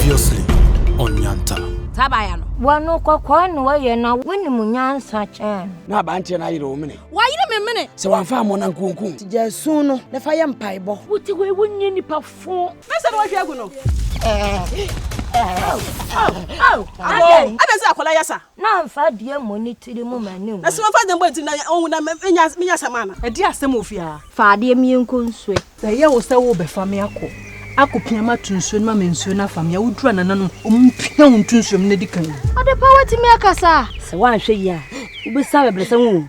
Previously on Nyanta. Saa baaya no. Wɔ no kɔkɔɔ na wɔyɛ na wonim nyansa kyɛn no. Na abanteɛ no ayere wo mene. Wayere me mene. Sɛ wamfa ammɔ no ankunkum. Nti gyaa su no na fa yɛ mpaebɔ. Wote wei wonyɛ nipa fo. Na sɛ na wahwie agu no. Adɛn? Adɛn sɛ akwadaa yɛ sa? Na mfa dua mmɔ ne tiri mu ma no nwu. Na sɛ wɔfa dɛn bɔ ne tiri na ɔnwu na menya menya asɛm ana? Ɛdeɛn asɛm wɔ fie aa? Fa adeɛ ma yɛnkɔ nsuo. Sɛ ɛyɛ wo sɛ worebɛfa me akɔ akɔpia me ato nsuo no ma me nsuo no afa me a, woduru a nananom ɔmpia wo nto nsuo mu na di kan. Adepa woatumi akasa a. Sɛ woanhwɛ yie a wobɛsua abɛbrɛsɛ ho o.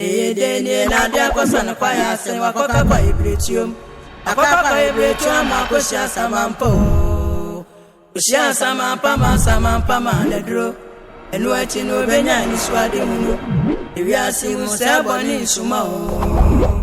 Eye dɛn nie na ade akɔsa no kwae a sɛ wɔakɔka kwae biretuom? Akɔka kwae biretuo ama akɔhyia asamampa o. Ɔhyia asamampa ma asamampa ma no aduro. Ɛno akyi no ɔbɛnya anisoadehunu. Ewiase yi mu sɛɛ bɔne nsuma o.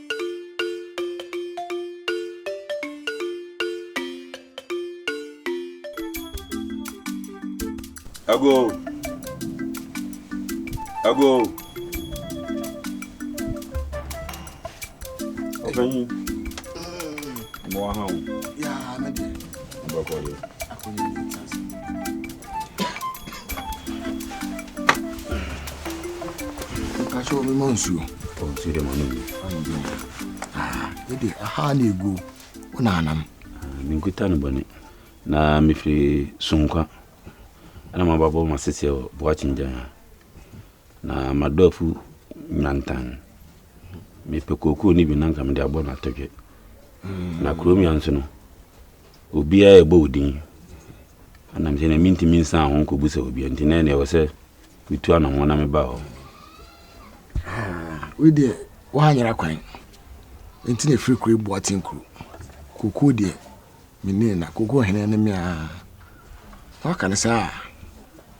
Ago. Ago. Open. Mo ahụ. Ya, mede. Kakyɛ omi mɔ nsuo. Ɔ nsuo dɛ mɔ no bi. Ɛde aha na egu wo na anam. Menkuta no bɔne na mefiri sonkwa ɛna maba bɔ ma seseɛ wɔ boakye ngyan ha. Na madɔ afu nyantan. Mepɛ kookoo no bi na nka mede abɔ no atodwe. Na kurom ya nso no, obiara ɛbɔ wo din. Ɛnam sɛ na mentumi nsan ho nkɔbu sɛ obia nti na ɛneɛ wɔ sɛ metu anammɔ na meba hɔ. Wei deɛ woanyera kwan nti na ɛfiri kuro boa tenkuro. Kookoo deɛ menni na kookoo hene ne me a. Woaka no saa a.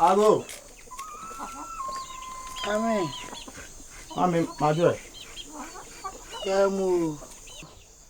Alo. Amen. Amen. Madre. Yamu.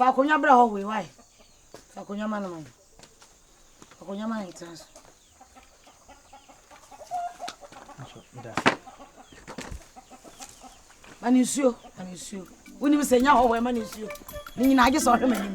Fa akonnwa bra hɔ wei wae. Fa akonnwa ma no ma no. Fa akonnwa ma no ntena so. Nso da. Ma no nsuo, ma no nsuo. Wonim sɛ nya hɔ wɔ ɛma ne nsuo ne nyinaa agye sɛ ɔhwɛ m'anim.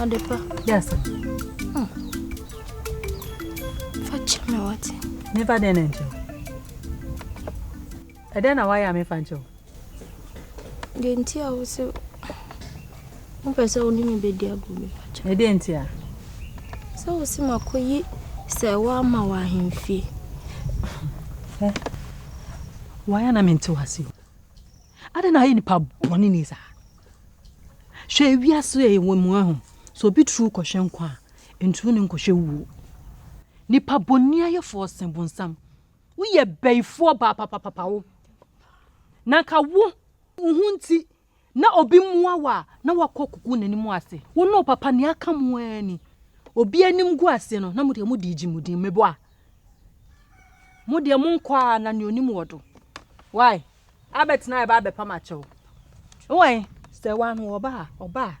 Adepa. Yes. Hmm. Fa kyerɛ me wate. Mefa dɛn na nkyɛw. Ɛdɛn na wayɛ a mefa nkyɛw? Deɛ nti a wo sɛ Wopɛ sɛ wo ne me bɛdi agorɔ bi fakyɛ. Na deɛ nti a? Sɛ wo se makɔyi sɛ woama wɔ ahemfie. Hɛ, wayɛ na mente wase o. Adɛn na ayɛ nipa bɔne ni saa? Hwɛ ewiase a yɛwɔ mu ahu sɛ obi turu kɔhwɛ nkwa a, nturu ne nkɔhwɛ wuo. Nipa bɔne ayɛfoɔ se bonsam. Woyɛ bɛyifoɔ baa papapapa wo. Na nka wo, wo ho nti Na obi mmoa wo a, na wakɔ kuku n'anim ase. Wo ne wo papa, nea aka mo ara ni. Obi anim gu ase no, na mo deɛ mode regye mo din. Meboa? Mo deɛ monkɔ ara na nea onim wɔ do. Wai, abɛtena a ɛba abɛpam akyɛ wo. Wai, sɛ wano ɔba a, ɔba a.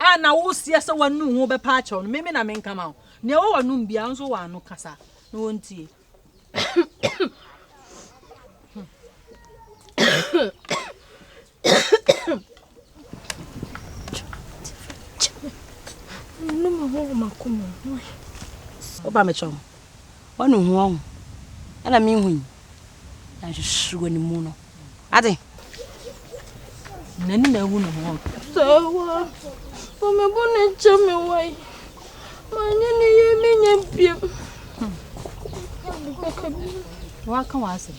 a na woseɛ sɛ w'anom wo bɛpa akyɛw no, meme na menka ma wo. Nea ɛwɔ w'anom biara nso wɔ ano kasa na wɔntie. Woba mekyɛw. wanu ho ahu ɛna mehu yi na nsusu wɔ ne mu no ade n'ani na ahu ne ho sawa wɔ me bo ne nkyɛ me wae manyɛ ne yɛ menyɛ biam waka wɔ asɛm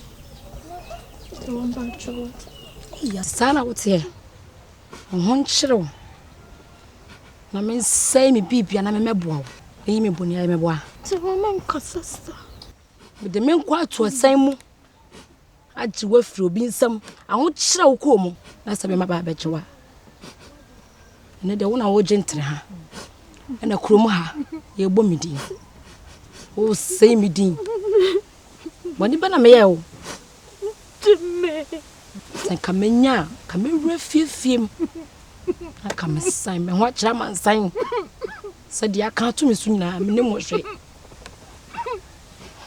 yɛ saa na woteɛ wo ho nkyerɛ wo Na mensɛe me biribia na memmɛboa wo. Meyi me bɔne ayɛ mɛboa. Te ho na nkasa sa. Mede me nkwa ato ɔsɛn mu. Agye wo afiri obi nsam. Ahokyerɛ wo kɔɔ mu. Na sɛ mema baa bɛgye wo a. Ɛnɛ deɛ wo na wogye ntere ha. Ɛna kurom ha yɛbɔ me din. Wosɛe me din. Bɔne bɛ na meyɛ wo. gye me. Sɛ nka menya a, nka mɛwura fiefiem na nka mesan me ho akyerɛ amansan sɛ deɛ aka ato me so nyinaa me ne mo hwɛ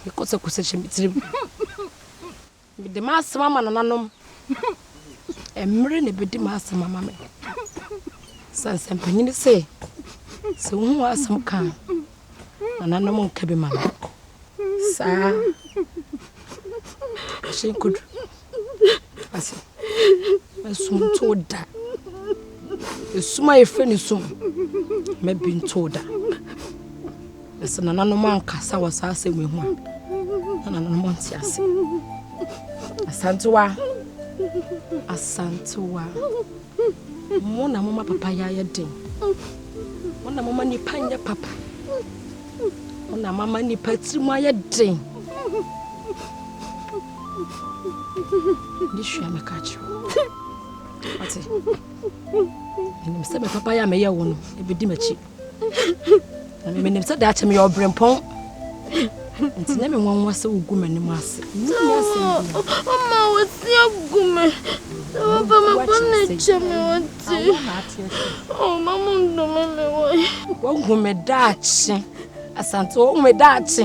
mekɔsɛkɔsɛ hyɛ me tirim mede m'asɛm ama nananom mmerɛ na ɛbɛdi m'asɛm ama me sansɛmpanyini sɛ sɛ wohu asɛm ka a Nananom nka bi ma me. Saa. Ahyɛ nkodu. Ase. Esum to da. Esum a yɛfrɛ ne sum. Ma bi nto da. Na sɛ nananom ankasa wɔ saa asɛm yi ho a, na nananom nte ase. Asantewa. Asantewa. Mo na moma papa yɛ ayɛ den. Mo na moma nipa nyɛ papa. Mo na mama nipa tiri mu ayɛ den. Ne sua meka kyerɛ wo. Ɔte. Menim sɛ me papa yɛ a meyɛ wo no, ɛbɛdi m'akyi. na menim sɛ daakye meyɛ ɔberempɔn nti na menwanwa sɛ wogu m'anim ase ɔma wɔte agu me sɛ wɔba mabɔ ne kyɛ me wɔte ɔma mo ndome me wɔe wahu me daakye asante wahu me daakye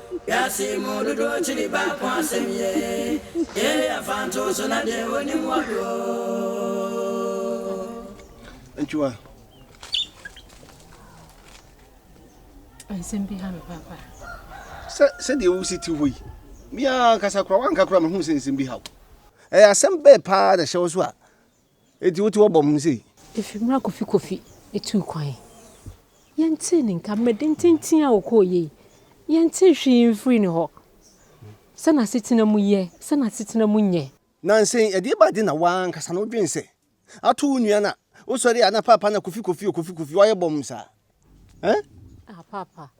Wiase yi mu dodoɔ kyiri baako asɛm ye Yei yɛ mfantoo so na deɛ wɔnim wɔ he oo. Nkyua. Nsɛm bi ha me papa. Sɛ sɛdeɛ wosi te hɔ yi, me ara ankasa koraa woanka koraa mehu sɛ nsɛm bi ha wo. Ɛyɛ asɛm bɛn paa na ɛhyɛ wo so a Enti wote wɔbɔ ho sei? Efi mmerɛ a Kofi Kofi tuu kwan yi, yɛntee ne nka. Mmerɛ dententen a ɔkɔeɛ yi, yɛntee hwee mfirii ne hɔ. Sɛ n'asetena mu yɛ, sɛ n'asetena mu nyɛ. Nansa yi, ɛdeɛ ba de na w'ankasa no wodwene sɛ ato wo nua no a, wosɔre a na Paapa na Kofi Kofi o, Kofi Kofi, woayɛ bɔmm saa? Eh? Ah, papa.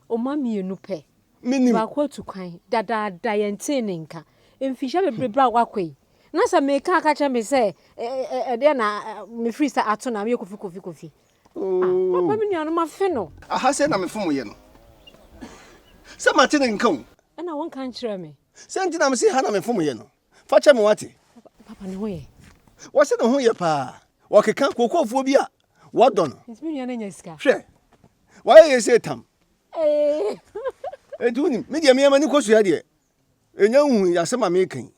Oma mienu pɛ. Minim. Baako atu kwan. Dadaada yɛn tee ne nka. Mfihyɛ bebrebe a wakɔ yi. Na sɛ meka aka kyerɛ me sɛ ɛdeɛ na mefiri sɛ ato na meyɛ kofi kofi kofi. Oh. Ah, papa me nuanom afe no. Aha sɛ na mefom yɛ no. Sɛ mate ne nka o. Ɛna wonka nkyerɛ me. Sɛ nti na mese ha na mefom yɛ no. Fa kyɛ me wate. Papa ne ho yɛ. Wɔse ne ho yɛ paa. Wɔkeka kokofoɔ bi a wɔdɔ no. Nti me nua no anya sika. Hwɛ. Wayɛ yɛ sɛ tam. Nti wonim me deɛ meɛ m'ani kɔ sua deɛ. Ɛnya nhu yɛ asɛm a meka yi.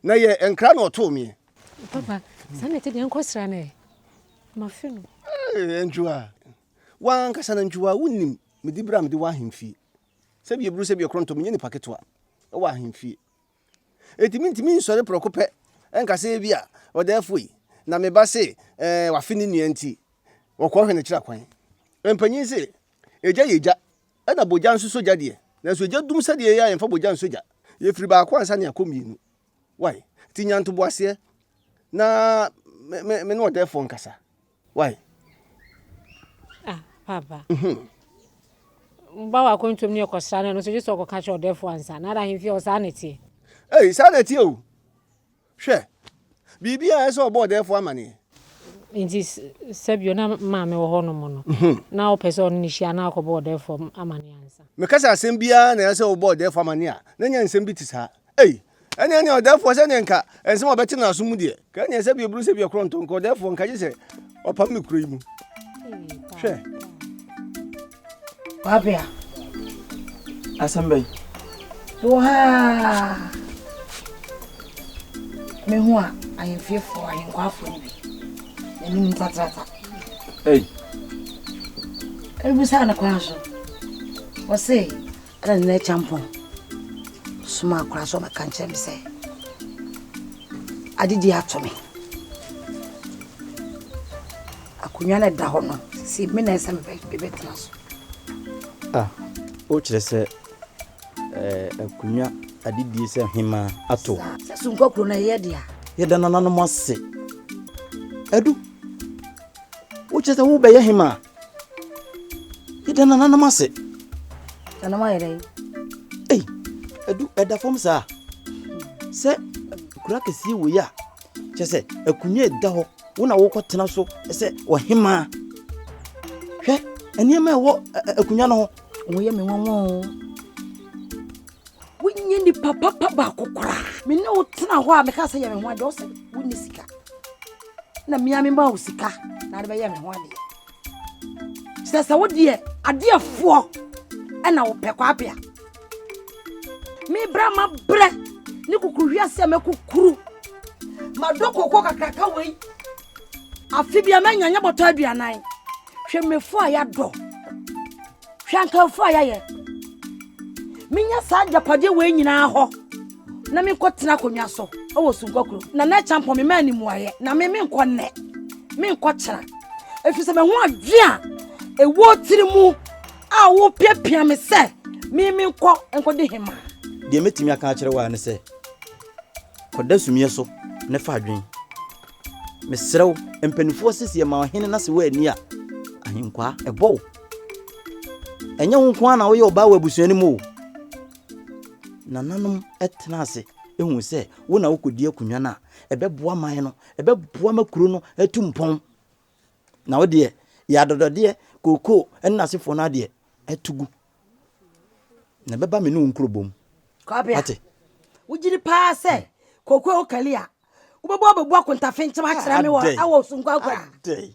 Na yɛ nkra na ɔtoo meɛ. Papa saa na ɛte deɛ nkɔ sra no ɛ. Mafe no. Ee ntwua. Wankasa na ntwua wonim mede bra mede wɔ ahemfie. Sɛbi ɛburu sɛbi ɛkorɔntɔ menyɛ nipa ketewa ɛwɔ ahemfie. Enti mintumi nsɔre prɛko pɛ nka sɛ ebia ɔda afui, na me ba se ɛɛ wafe ne nua nti, wɔkɔhwɛ no kyerɛ kwan. Mpanyin se, Egya yɛ gya, ɛna bogya nso sɔ gya deɛ, nanso egya dum sɛdeɛ ɛyɛ a yɛmfa bogya nsɔ gya. Yɛfiri baako ansa na yɛakɔ mmienu. Wai, nti nya ntoboaseɛ na me ne ɔdɛɛfoɔ nkasa. Wai. Ah papa. Mhm. Wo ba wɔ akwantuom ne ɔkɔsra no ɛno nso gye sɛ ɔkɔka kyerɛ ɔdɛɛfoɔ ansa. Nada ahemfie hɔ saa na ɛteɛ. Ei saa na ɛteɛ o. Hwɛ. Biribi a ɛsɛ ɔbɔ ɔdɛɛfoɔ amaneɛ. Nti sɛbio na maame wɔ hɔnom no mhm. na ɔpɛ sɛ ɔne ne hyia na akɔbɔ ɔdɛɛfoɔ amaneɛ ansa. Meka sɛ asɛm biara na ɛsɛ ɔbɔ ɔdɛɛfoɔ amaneɛ a na nya nsɛm bi te saa. Ei Ɛne ɛne ɔdɛfoɔ sɛdeɛ nka ɛnsɛm a ɔbɛte n'aso mu deɛ. Ka ɛne ɛsɛ biaburu sɛ biakorɔ ntɔ nka ɔdɛfoɔ nka gye sɛ ɔpam me kuro yi mu. Hwɛ. Wabea. Asɛm bɛn? Wɔ ha me ho a ahemfiefoɔ ahenkwafoɔ no bi n'anim ntatrata. Ei. Ɛbisaa no kwan so. Wɔse Ɛna ne na kyampɔn soma akora so ɔbɛka nkyerɛ me sɛ adedi ato me akonnwa no ɛda hɔ no sisi me na ɛsɛ mebɛtena so ah wokyerɛ sɛ eh, akonnwa adedie sɛ hema ato sɛ sonkɔ kuro no ɛyɛ dea yɛda nananom ase adu wokyerɛ sɛ wobɛyɛ hema Yɛda nananom ase. Nananom ayɛ dɛn? Ei, ɛdu ɛda fam saa. Sɛ kura kɛseɛ wei a, kyɛ sɛ akonnwa ɛda hɔ wo na wokɔtena so sɛ ɔhemaa. Hwɛ nneɛma ɛwɔ akonnwa no ho. Woyɛ me nwanwa o. Wonyɛ nipa papa baako koraa. Me ne wo tena hɔ a meka sɛ yɛ me ho adeɛ wo sɛ wonni sika. na mmea me ma wo sika na ade bɛyɛ me ho adeɛ sɛ sɛ wo deɛ adeɛfoɔ ɛna wo pɛ kwapea mebra ma brɛ ne kukuru hwi ase a mɛkukuru madɔ koko kakraka wei afe bia mɛnyanya bɔtɔ aduanan hwɛ mefo a yɛadɔ Hwɛ nkamfo a yɛayɛ! Menya saa agyapadeɛ wei nyinaa hɔ na menkɔtena akonnwa so wɔ Sunkɔ kuro. Nana Akyampɔn me maa ne mmuaeɛ na me menkɔ nnɛ menkɔ kyena ɛfiri sɛ mahu adwe a ɛwɔ tiri mu a wopiapia me sɛ me menkɔ nkɔdi hema. Deɛ mɛtumi aka akyerɛ wo a ne sɛ kɔda sumiɛ so ne fa adwen. Mesrɛ wo mpanimfoɔ seseɛ ma ɔhene na se woanni a ahenkwaa ɛbɔ wo. ɛnyɛ wo nko ara na woyɛ ɔbaa wɔ abusua no mu o nananom tena ase ehu sɛ wo na wokɔdi akonnwa no a ɛbɛboa man no ɛbɛboa ma kuro no atu mpɔn na wo deɛ yɛ adɔdɔdeɛ kookoo ɛne n'asefoɔ no adeɛ atu gu na ɛbɛba me ne wo nkurobom ate wogyiri paa sɛ hmm. kookoo wokali a wobɛbɔ abɛbu akontafe nkyɛm akyerɛ me wɔ ɛwɔ sonkɔ akwadi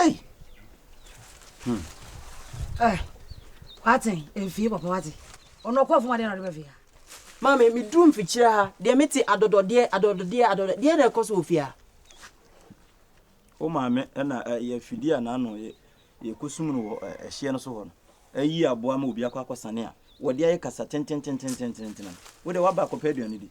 Ei! Hmm. Eh, wate, mfie papa wate. Ɔno ɔkɔɔ fam adeɛ na ɔde bɛfie ha. Maame, meduru mfikyire ha, deɛ mete adɔdɔdeɛ, adɔdɔdeɛ, adɔdɔdeɛ, deɛ na ɛkɔ so wɔ fie ha. Wo maame na ɛyɛ eh, afidie a n'ano yɛkɔsum no wɔ eh, ɛhyeɛ no so hɔ no. Ayi eh, aboa ma obi akɔ akɔsane a wɔde ayɛ kasa tententententententena. Wo deɛ woaba akɔpɛ aduane di.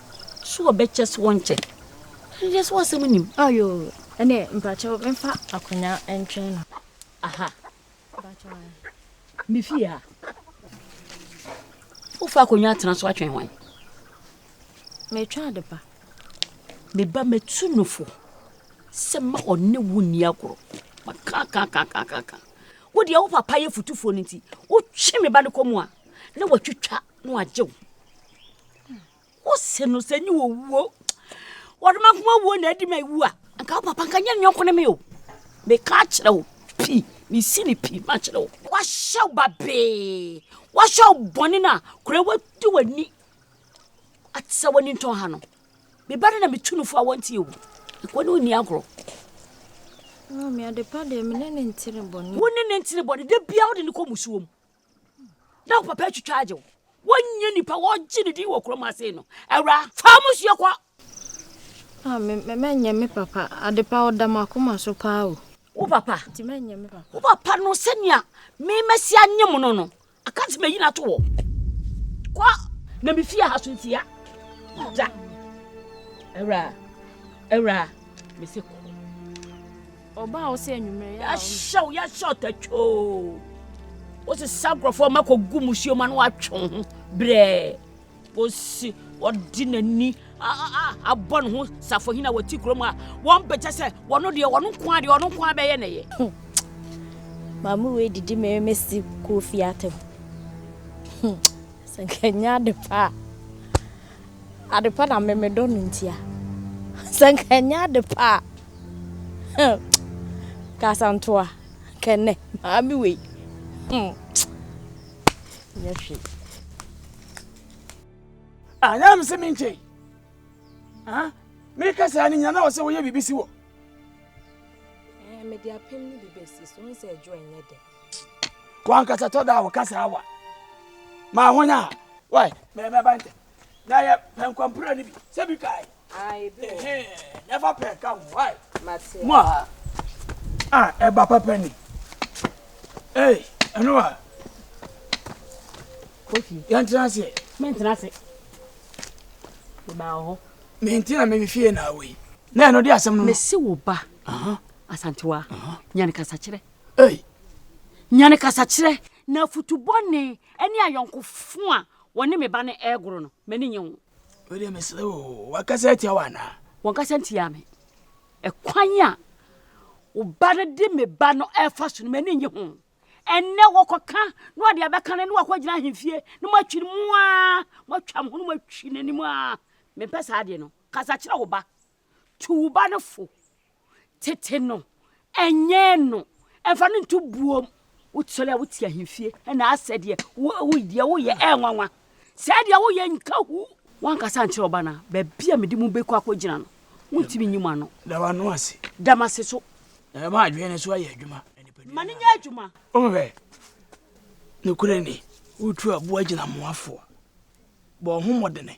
So ɔbɛkyɛ so ɔnkyɛ? Hwehwɛ so asɛm nim. Ah yoo ɛneɛ mpakyɛw menfa akonya ntwɛn no. Aha me fie a wo fa akonya atena so atwɛn hwan? Metwɛn ade pa. Me ba mɛtu no fo sɛ ma ɔne wo nni agorɔ ma kakakakakaka wo deɛ wo papa yɛ futufoɔ no nti wotwe me ba no kɔ mu a na watwitwa na wagye wo wose no sɛ nyɛ wɔwuo wɔde ma nkoma wuo na adi ma ɛwu a nka wo papa nka nyɛ nyɔnko ne me o meka akyerɛ wo pii mesi ne pii ma kyerɛ wo wahyɛ wo babee wahyɛ wo bɔne no a kora wadi w'ani ate sɛ w'ani ntɔn ha no meba no na metu no fo a wɔnte ɛwu ɛkɔ ne ɔnni agorɔ wo ne ne ntene bɔne da bia wode ne kɔ musuom na wo papa atwitwa agye wo wonyɛ nipa wɔgye ne din wɔ kurom ase no awura fa mo suo kɔ ah, mɛnyɛ me papa adepa ɔda makoma so paa o wo papa nti mɛnyɛ me papa wo papa no sɛnea memasi anye mo no no aka nti mayi no ato hɔ kɔ na mefie ha so ntia da awura awura mese kɔ Ɔbaa hɔ sɛ anwummerɛ yɛ a ɔno. Yɛahyɛw yɛahyɛ ɔtatwoo. Wosesa nkurɔfoɔ ma kɔgu musuo ma no atwe ho brɛɛ kɔsi ɔde n'ani abɔ ne ho safohene a wɔte kurom a wɔmpɛkyɛ sɛ wɔno deɛ wɔno nko a deɛ wɔno nko a bɛyɛ ne yɛ. Maame wei didi me me si kɔɔ fie atɛm. Sɛ nka nyɛ adepa a adepa na mmemmedɔ no ntia. Sɛ nka nyɛ adepa a. Hmm. Kasantoa. Kɛnɛ. Maame wei. Hmm. Nyɛ hwee. Ah, na mse me nkyɛn. Ah, me kasa ni nyina na ɔsɛ wɔyɛ biribi si wɔ. Eh, me de apem ni bi besi so nse adwo enye de. Wan kasa to da wo kasa awa. Ma honya. Wai, me me bante. Na ye penkompre ni bi. Se bi kai. Ah, ebi wɔ. Ehe, never pɛ ka ho, why? Mate. Mo a, ah, ɛba papa ni. Hey, ɛno a. Kofi. Yɛn tena ase. Mɛ ntena ase. Meba wɔ hɔ. Mɛ ntina mɛ fie na awo yi. Na ɛno de asɛm no. Mɛ si wo ba. Aha. Asantewa. Aha. Nyane kasa kyerɛ. Hey. Nyane kasa kyerɛ. Na futubɔ ne ɛne ayɔnkofo a wɔne me ba no ɛgoro no, mɛ ne nyɛ ho. Wode mesrɛ wo, wakasa atia wo anaa? Wɔnkasa ntia me. Ɛkwan a wo ba no de me ba no ɛfa so no, m'ani nye ho. Ɛnnɛ wɔkɔka na wɔde abɛka no ne wakɔgyina ahemfie na moatwi no mu a, moatwa mo ho no moatwi n'anim a. Mempɛ saa adeɛ no. Kasa kyerɛ wo ba Tu wo ba no fo. Tete no. Nyɛn no. Mfa no nto buom. Wosɔre a wote ahemfie na asɛ deɛ wo deɛ woyɛ ɛyɛ nwanwa. Sɛɛ deɛ woyɛ nka hu. Woankasa ankyerɛ wo ba no a, baabi a mede mo bɛkɔ akɔgyina no, wontumi nyi mo ano. Da w'ano ase. Da m'ase so. Na ɛma adwene no so ayɛ adwuma. Ma no nyɛ adwuma. Wohwɛ, nokorɛ ni, wotu aboa gyina mmoafoɔ, bɔ wo ho mmɔdene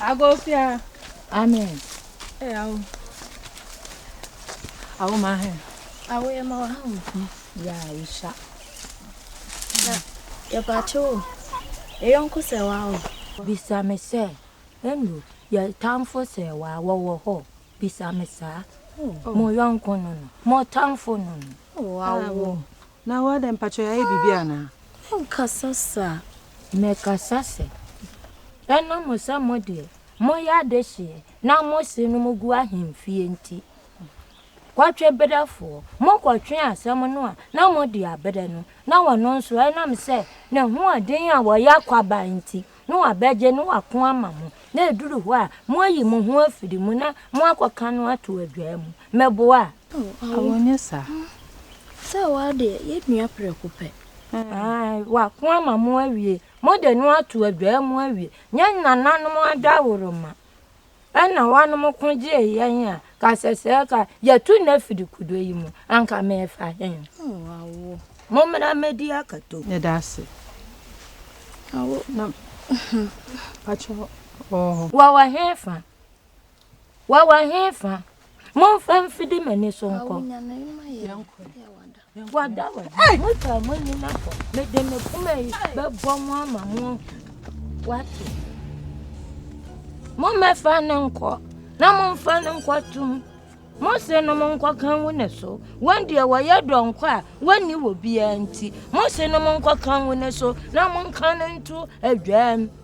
Agofia. Amen. Hey, awo. Awo ma he. Awo yɛ ma wɔ ha wɔ fi. Ya wisa. Na yɛ ba kye wo. Yɛ yɔnko sɛ wa o. Bisa me sɛ, Andrew, yɛ tamfo sɛ wa wɔwɔ hɔ. Bisa me saa. Mo yɔnko no no. Mo tamfo no no. Awo. Na wo adɛn mpakyɛ yɛayɛ biribi anaa? Menkasa saa. Mekasa sɛ, Ɛno mo sɛ mo deɛ moyɛ adehyeɛ na mo se no mogu ahemfie nti, kɔtwe berɛfoɔ. Mokɔtwe asɛm no a na mode aberɛ no na ɔno nso ɛnam sɛ n'ahoɔden a ɔyɛ kwaban nti na wɔabɛgye na wɔako ama mo, na ɛduru hɔ a, moayi mo ho afiri mu na moakɔka no ato adwaa mu. Mɛboa a? Awo, awo nyɛ saa. Sɛ wo ara deɛ, yɛnnua prɛko pɛ. Aane, wɔako ama mo awie. Mode no ato adwaa mu awie. Nyɛ nananom adaworo mma. Ɛna wɔnom ko gyee yɛn a, ka sɛ sɛɛ ka yɛto Nephi de kudo yi mu, anka mefa he? Mommra mmɛdi akato. Yɛda ase. Awo na pakyɛ wɔwɔ hɔ. Wɔwɔ he fa? Wɔwɔ he fa? Momfa mfidi m'ani so nkɔ. Awo nyane ma yɛn. Wada wɔ di. Mo ta mo ni na fɔ. Me de me kuma yi bɛ bɔ mo ama mo wate. Mo mɛ fa ne nkɔ. Na mo mfa ne nkɔ tum. Mo se no mo nkɔ kan wo ne so. Wɔn deɛ wɔyɛ dɔ nkɔ a wɔnni wɔ biara nti. Mo se no mo nkɔ kan wo ne so. Na mo nka ne nto adwam.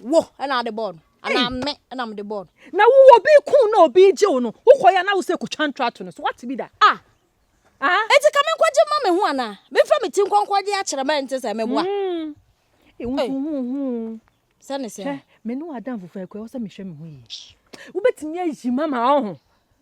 Wo na ade bɔɔ no anaa me na mede bɔɔ no? Na wo obi kun na obi gye wo no, wokɔ yɛ na wo sɛ kotwa ntrato no so. Wate bi da? Ah. Ah. Eti ka me nkɔgye mma me ho anaa? Me fa me ti nkɔnkɔ gye akyerɛ mɛ nte sɛ meboa. Mm. Ewu so hu hu. Sɛ ne sɛ. Hwɛ, me ne w'adamfo fa akua wɔ sɛ mehwɛ me ho yie. Wobɛtumi ayi mama ɔho.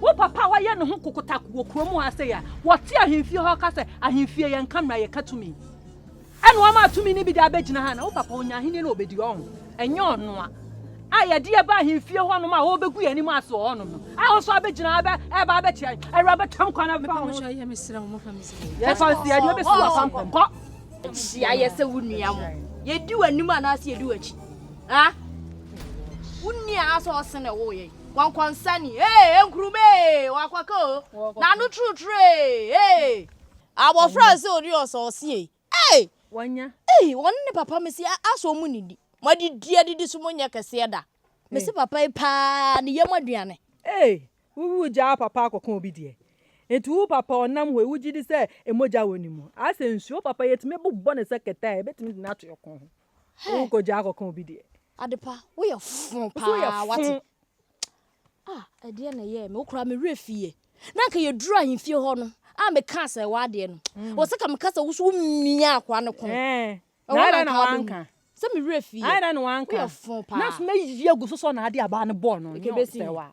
Wo papa a wayɛ ne ho kokotak wɔ kurom ha sei a wɔte ahemfie hɔ ka sɛ ahemfie yɛnka mmara yɛka tumi. Ɛna ɔma tumi no bi de abɛgyina ha na wo papa ɔnya ahennie na ɔbɛdi hɔ ho. Ɛnyɛ ɔno a a yɛde yɛ ba ahemfie hɔnom a ɔrebɛgu yɛn anim ase wɔ hɔnom no a wo nso abɛgyina ha ɛreba abɛte awuraba tam kwan abɛfa ho. Yɛfa nsi ɛde ɔbɛsi wɔ apampam kɔ. Hyia yɛ sɛ wo nua mo. Yɛdi w'anim anaasɛ yɛdi w'akyi. Ha? Wo nua asɛ ɔsene wo yɛn. Kɔnkɔnsani ee, enkurum ee, wakɔka o, n'ano trutru ee, ee. Abɔfra a se odi ɔsa ɔse ei, ei, wanya. Ei, wɔne ne papa mese a, a so ɔmo nidi? Moadidi adidi so monyɛ kɛseɛ da. Mese papa yi paa ne yam aduane. Ei, wo wu gyaa papa akɔka obi deɛ. Nti wo papa ɔnam hɔ yi wogyedi sɛ mogya wɔ ne mu. Asɛ nsuo, wo papa yi etumi bobɔ ne sɛ kɛtɛ a ebetumi de no ato ɛko ho. Hɛ. Wo kɔgya akɔka obi deɛ. Adepa wo yɛ fo paa wate. Ah ɛdeɛ na ɛyɛ me wokora me werɛ fie. Na nka yɛ duru ahemfie hɔ no a me ka sɛ ɛwɔ adeɛ no. Mm. Wɔ sɛ ka me ka sɛ woso mia akoa no kɔn. Eh. Ɛwɔ na nka wanka. Sɛ me werɛ fie. Ayɛ dɛ na wanka. Wo yɛ fo paa. Na sɛ mɛyi agu so sɔ na adeɛ abaa no bɔɔ no. Ɛkɛbɛsi.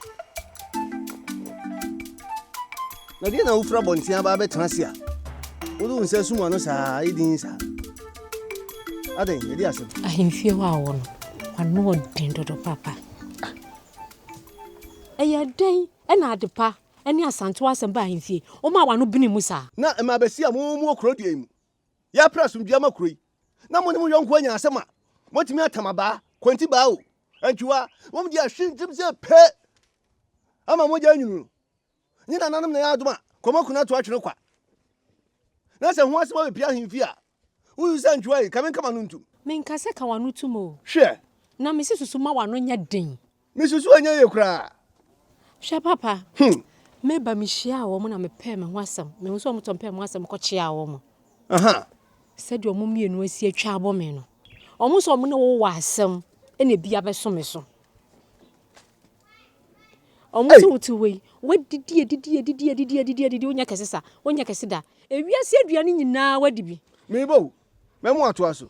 Na deɛ na wofiri abɔnten aba abɛtena ase a wode wo nsa asum ano saa ayɛ din saa adɛn ɛde asɛm ahemfie hɔ a wɔ no wano ɔden dodo papa ɛyɛ dɛn ɛna adepa ɛne asantew asɛm ba ahemfie wɔn a wano bene mu saa na ɛma abɛsi a mo mu wɔ kuro deɛ mu Yɛapere asomdwoe ama kuro yi, na mo ne mo yɔnko anya asɛm a, moatumi atam abaa, kwantibaa o, antwiwa, wɔn deɛ ahwe ntɛm sɛ pɛ ama mogya anyunu no. Nye nananom na ɛyɛ adom a, kɔma kunu ato atwene kwa. Na sɛ ho asɛm abɛpia ahemfie a, wosu sɛ antwiwa yi, ka me nkama no ntom. Menkasa ka w'ano tom o. Hwɛ! Na mese susu ma w'ano nyɛ den. Misusu ɛnyɛ yie koraa. Hwɛ papa, hmm. me ba me hyia wɔn na me pɛɛ me ho asɛm. Me ho sɛ wɔn tɔn pɛɛ mo asɛm kɔ kyea wɔn. Aha. Sɛdeɛ wɔn mmienu asi atwa abɔ me no. Wɔn sɛ wɔn ne wo wɔ asɛm ɛna ebi abɛso me so. Wɔn sɛ wo ti wei, wadidi adidi adidi adidi adidi adidi wonya kɛse sa, wonya kɛse da. Ewiase aduane nyinaa wadi bi. Mebo, mɛmo atoa so.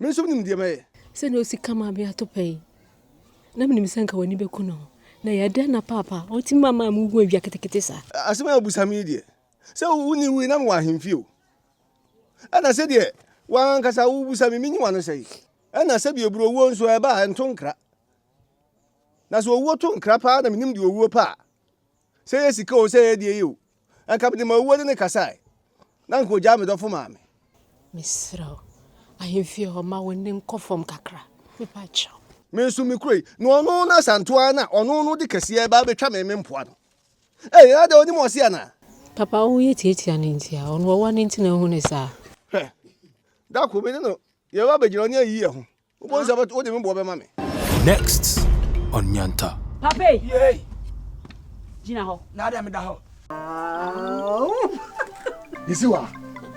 Me nso menim deɛ mɛyɛ. Sɛdeɛ ɔsi ka mmabea to pɛi. Na menim sɛ anka w'ani bɛku no ho. Na ɛyɛ dɛn na paapa a ɔtumi ma maa mugu adwa ketekete saa? Asɛm a wobisa me yi deɛ, sɛ wo ne wui na mewɔ ahemfie o, ɛna sɛdeɛ wo ara ankasa wobisa me, menyi w'ano sɛe. Ɛna sɛdeɛ ɛburu owuo nso a, ɛba a, ɛnto nkra. Na sɛ owuo to nkra paa na menim deɛ owuo pɛ a, Sɛ ɛyɛ sika oo, sɛ ɛyɛ deɛ yɛ oo, anka mede m'awuwade no kasae, na anka ɔgyaa me dɔfo maa me. Mesrɛ wo, ahemfie hɔ, ma wo nne nkɔ fam kakra, mepakyɛw. Me nso me kuro yi, na ɔno no asantoa ara na ɔno no de kɛseɛ reba abɛtwa me me mpoano. Ei, ɛyɛ adɛn, ɔnim ɔse anaa? Papa, wo yɛ tiatia no nti a, ɔno ɔwɔ no nti na ahu no saa. Hwɛ, da koro me ne no yɛreba abɛgyina ɔne ayiyɛ ho, Wobɛhu sɛ wode me boɔ bɛma me. Next on Nyanta. Papa yi. Yei. Gyina hɔ. Na dɛ meda hɔ. Yɛsi wa.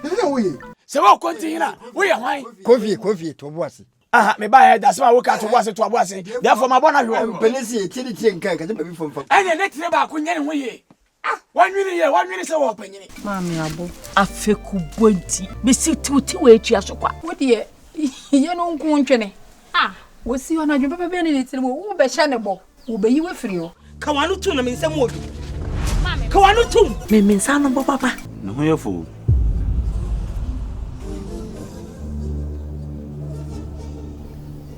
Yɛsi sɛ woye. Sɛ wɔ kɔnti hena woyɛ hwan. Kofi kofi to bo ase. Aha me ba yɛ dasem a woka to bo ase to abo ase. Therefore ma bɔ na hwɛ. Mpene si etiri tiri nka nkasa baby fom fam. Ɛne ne tiri baako nyɛ ne ho yie. Ah! W'anwene yɛ, w'anwene sɛ wɔ panyini. Maame abo, afekubɔ nti, mesi tiwti wɔ atua so kwa. Wo deɛ, yɛ no nko ntwene. Ah! Wɔsi hɔ no adwene papa bɛn ne ne tirim o, wo bɛhyɛ ne bɔ, wɔbɛyi wo afiri hɔ. Ka w'ano tom na me nsam wɔ duru. Maame, ka w'ano tom. Me me nsa ano bɔ papa. Ne ho yɛ fo o.